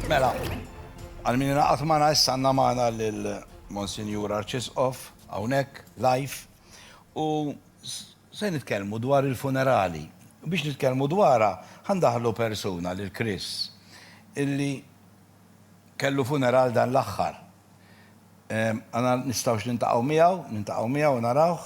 Mela, għal min ingħaqad magħna issa għandna magħna lil Monsinjur Arċisqof hawnhekk live u se nitkellmu dwar il-funerali. U biex nitkellmu dwarha ħandaħlu persuna lil Chris illi kellu funeral dan l-aħħar. Għana nistgħux nintaqgħu miegħu, nintaqgħu miegħu u narawh.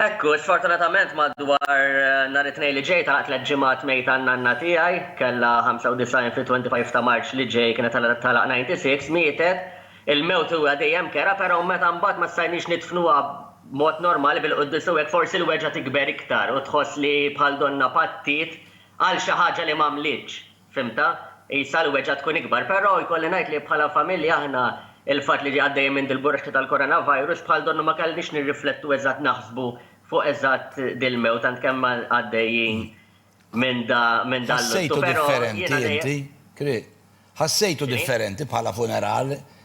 Hekk hu, sfortunatament madwar nhar it-Tnejn li ġej tagħlaq tliet ġimgħat mejta n-nanna tiegħi, kellha 95 fit-25 ta' Marċ li ġej kienet tagħlaq 96, mietet, il-mewt huwa dejjem kera però meta mbagħad ma stajniex nidfnuha b'mod normali bil-quddies u hekk forsi l-weġgħa tikber iktar u tħoss li bħal donnha pattiet għal xi ħaġa li m'għamlitx. Fhimtha? Qisha l-weġgħa tkun ikbar. Però jkolli ngħid li bħala familja aħna l-fatt li għaddejjin minn dil-burxta tal-coronavirus bħal donnu ma kellniex nirriflettu eżatt naħsbu fuq eżatt dil-mewt tant kemm għaddejjin minn da minn dal-luttu. Però jiena dejjem. Ħassejtu differenti inti? Ħassejtu differenti bħala funeral?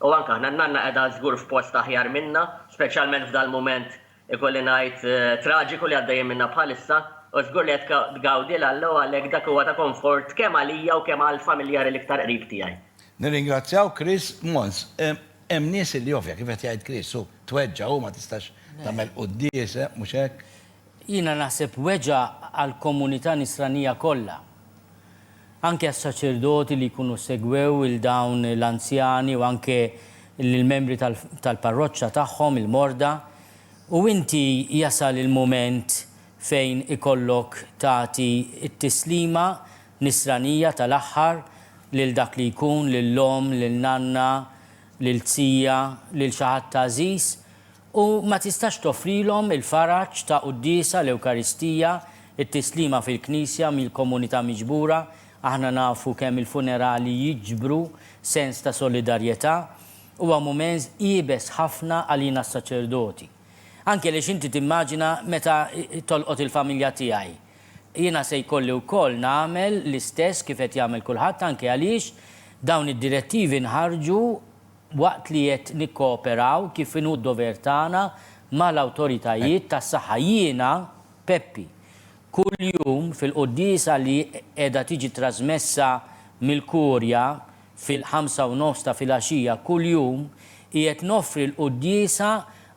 U anke aħna, n-nanna qiegħda żgur f'post aħjar minna, speċjalment f'dal-mument, ikolli ngħid, traġiku li għaddejjin minna bħalissa, u żgur li qed tgawdi l-Alla u għalhekk dak huwa ta' konfort kemm għalija u kemm għall-familjari l-iktar qrib tiegħi. Nirringrazzjaw Chris Mons. Hemm nies li ovvja, kif qed jgħid Chris, hu tweġġa' u ma tistax tagħmel quddies, mhux hekk? Jiena naħseb weġgħa għall-komunità Nisranija kollha. Anke għas-saċerdoti li jkunu segwew 'il dawn l-anzjani u anke lill-membri tal-parroċċa tagħhom, il-morda. U inti jasal il-mument fejn ikollok tagħti t-tislima Nisranija tal-aħħar lil dak li jkun, lil omm, lil nanna, lil zija, lil xi ħadd għażiż. u ma tistax toffrilhom il-faraġ ta' quddiesa, l-Ewkaristija, it-tislima fil-Knisja mill-komunità miġbura, aħna nafu kemm il-funerali jiġbru sens ta' solidarjetà, huwa mument iebes ħafna għalina s-saċerdoti. Anke għaliex inti timmaġina meta tolqot il-familja tiegħi. Jiena se jkolli wkoll nagħmel l-istess kif qed jagħmel kulħadd anke għaliex dawn id-direttivi nħarġu waqt li qed nikkooperaw kif inhu d-dover tagħna mal-awtoritajiet tas-saħħa. Jiena, Peppi, kuljum fil-quddiesa li qiegħda tiġi trażmessa mill-Kurja fil-ħamsa u nofs ta' filgħaxija kuljum, qiegħed noffri l-quddiesa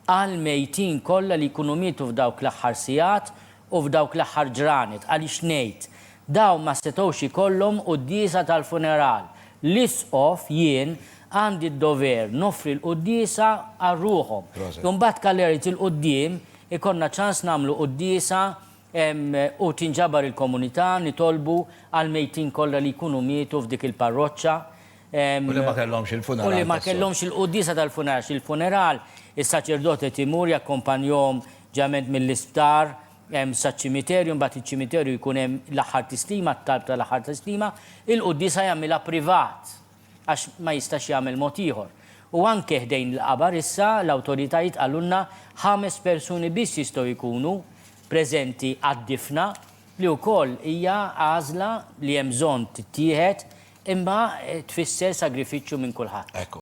għall-mejtin kollha li jkunu mietu f'dawk l-aħħar sigħat u f'dawk l-aħħar ġranet, għaliex ngħid, dawn ma setgħux ikollhom quddiesa tal-funeral. L-Isqof, jien, għandi d-dover noffri l-quddiesa għal ruħhom. Imbagħad kalert il-quddiem ikollna ċans nagħmlu quddiesa u tinġabar il-komunità, nitolbu għall-mejtin kollha li jkunu mietu f'dik il-parroċċa, U li ma kellhomx il-funeral tas-soltu. U li ma kellhomx il-quddiesa tal-funeral, x'il-funeral, is-saċerdot qed imur jakkompanjahom ġeneralment mill-isptar saċ-ċimiterju, imbagħad iċ-ċimiterju jkun hemm l-aħħar tislima, t-talb tal-aħħar tislima, il-quddiesa jagħmilha privat. għax ma jistax jagħmel mod ieħor. U anke ħdejn il-qabar issa l-awtoritajiet qalulna ħames persuni biss jistgħu jkunu preżenti għad-difna li wkoll hija għażla li hemm bżonn tittieħed imma tfisser sagrifiċċju minn kulħadd.